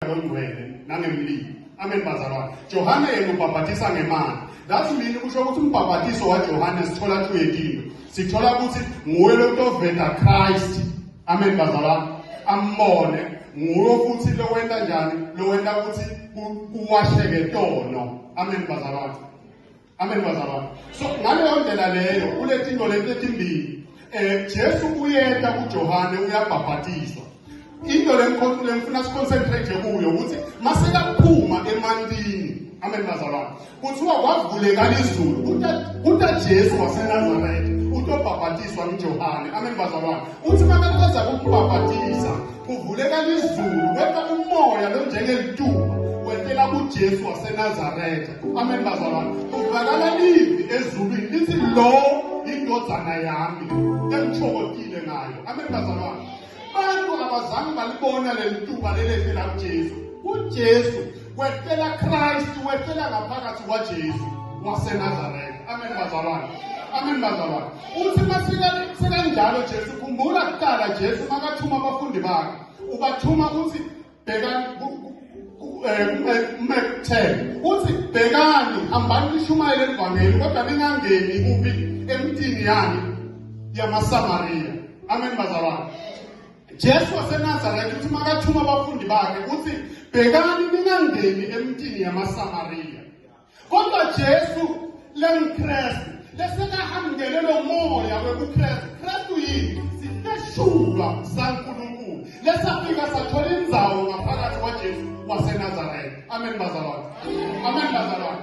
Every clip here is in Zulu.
ngongcwele nangemlilo amen bazalwane johane yena ubhabhathisa ngemali that mean kusho ukuthi umbhabhathiso wajohane sithola tuyekile sithola ukuthi nguye lomuntu oveta christ amen bazalwane ambone nguye futhi lowenta njani lowenta ukuthi kuwasheke tono amen bazalwane Amen bazalwane. So ngaleyo ndlela leyo uletha into lento etimbili. Eh Jesu uyeta kuJohane uyabhabhatizwa. Into lenkonzo lemfuna siconcentrate kuyo ukuthi masekaphuma emantini. Amen bazalwane. Kuthiwa kwavuleka izulu. Kuta kuta Jesu waseNazaretha utobhabhatizwa kuJohane. Amen bazalwane. Uthi uma beqeda ukubhabhatiza kuvuleka lizulu kepha umoya lo njengelituba wentela kuJesu waseNazaretha. Amen bazalwane. Kuvakala livi ezulwini lithi lo indodana yami engithokozile ngayo. Amen bazalwane. Abantu abazange balibona lelituba lelethela kuJesu. UJesu wehlela Christ wehlela ngaphakathi kwaJesu waseNazaretha amen bazalwane amen bazalwane uthi masika sekanjalo Jesu khumbula kuqala Jesu makathuma abafundi bakhe ubathuma uthi bheka umekuthele eh, uthi bhekani hambani nishumayele evangeli kodwa ningangeni kubi emtini yani yamasamariya amen bazalwane Jesu waseNazaretha uthi makathuma abafundi bakhe uthi bhekani ningangeni emntini yamaSamariya. Kodwa Jesu lengiKristu lesekahambele lo moya wekuKristu. Kristu yini? Sifeshulwa saNkulunkulu. Lesafika sathola inzawo ngaphakathi kwaJesu waseNazaretha. Amen bazalwane. Amen bazalwane.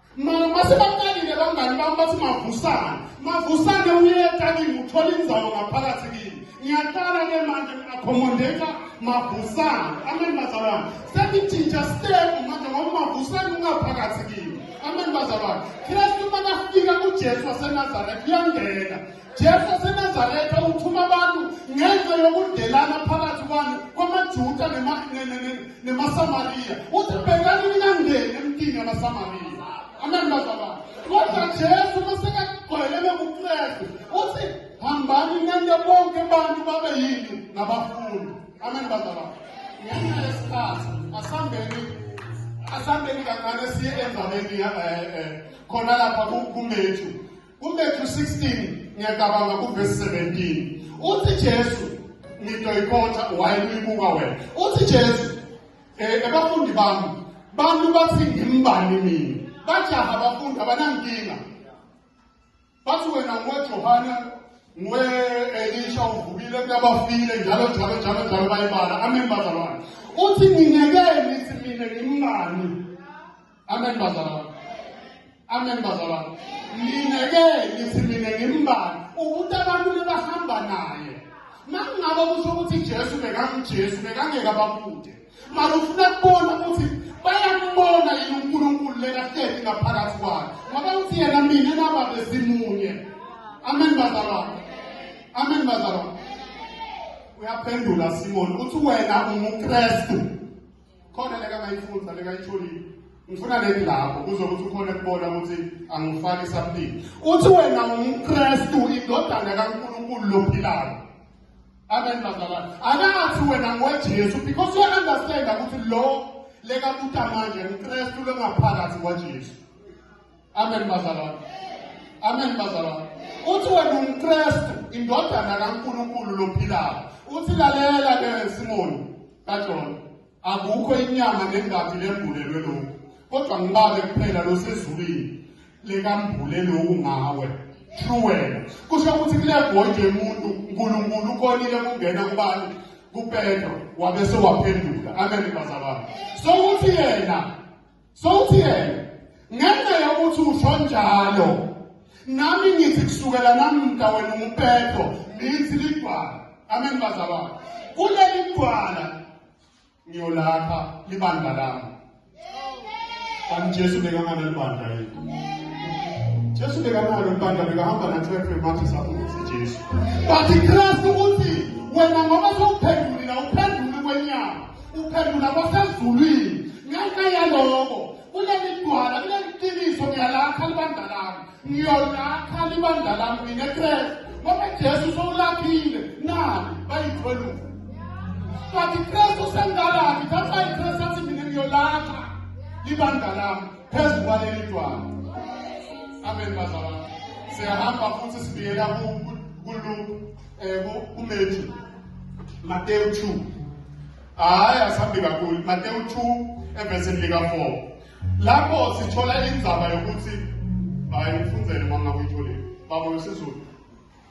Mase baqalile bangani bami bathi mavusane. Mavusane uyeta kimi uthola inzawo ngaphakathi kimi. Ngiyaqala ke manje ngi-accommodate mavusane. Amen bazalwane. Sengitshintsha step manje ngoba mavusane ungaphakathi kimi. Amen bazalwane. Kristu makafika kuJesu waseNazaretha uyangena. Jesu waseNazaretha uthuma abantu ngenxa yokudelana phakathi kwani kwamaJuda nemaSamariya. Uthi bhekani ningangeni emntini yamaSamariya. Amen bazalwane. Kodwa Jesu masekagcwele lokuKristu uthi hambani nenze bonke abantu babe yini ngabafundi. Amen bazalwane. Ngenxa yesikhathi asambeni asambeni kancane siye endabeni eh, eh, khona lapha kumethu kuMatthew 16 ngiyacabanga kuvesi 17 uthi Jesu ngitoyikhotha wayeluyibuka wena uthi Jesu eh, abafundi bami bantu bathi ngimbani mina bajaha abafundi abanankinga bathi wena ngoJohane ngwe Elisha uvukile kuyabafile njalo njalo njalo njalo bayibala amen bazalwane uthi nginekeni sithi mina ngimngani Amen bazalwane. Amen bazalwane. Mina ke ngithi mina ngimbani ukuthi abantu lebahamba naye. Makungabe kusho ukuthi Jesu bekanguJesu bekangeke abakude. Mara ufuna kubona ukuthi bayambona yini uNkulunkulu lena hlezi ngaphakathi kwakhe. Ngoba uthi yena mina naba besimunye. Amen bazalwane. Amen bazalwane. Uyaphendula Simon uthi wena unguKristu. khona lekangayifunda lekayitholile ngifuna leni lapho kuzokuthi ukhona kubona ukuthi angifaki something uthi wena ungumkrestu indodana kankulunkulu lophilayo amen bazalwane akathi wena ngojesu because uya-understanda ukuthi lo lekabuta manje ngukrestu longaphakathi kwajesu amen bazalwane amen bazalwane uthi wena umkristu indodana kankulunkulu lophilayo uthi lalela ke simoni kajona akukho inyama nengathi lembulelwe lokhu kodwa ngibale kuphela losezulwini lekambule lokhu ngawe true wena kusho ukuthi kule bhondi yomuntu unkulunkulu ukonile kungena kubani kupetro wabe sewaphenduka amen bazalwane so uthi yena Sothi yena ngenxa yokuthi usho njalo nami ngithi kusukela namda wena umpetho ngithi ligwala amen bazalwane kuleli gwala ngiyolapha libandla lami kanti jesu bekamane libandla yethu jesu bekamane libandla bekahamba nathwethwe mathi sabuthi jesu but ikristu uthi wena ngoba sewuphendulile uphendule kwenyama Uphendula kwasezulwini ngenxa yaloko kuleli dwala kuleli qiniso ngiyalakha libandla lami ngiyolakha libandla lami mina Kristu ngoba Jesu sowulakhile nani bayikhweluka kanti Kristu sengalaphi thatha iKristu athi mina ngiyolakha libandla lami phezu kwaleli dwala amen bazalwane siyahamba futhi sibiyela kuLuke um kuMethi Mateyu 2 hayi asihambi kakhulu Mateyu 2 evesini lika-4 lapho sithola indzaba yokuthi hayi ufunzele uma ngabe uyitholile baba wesizulu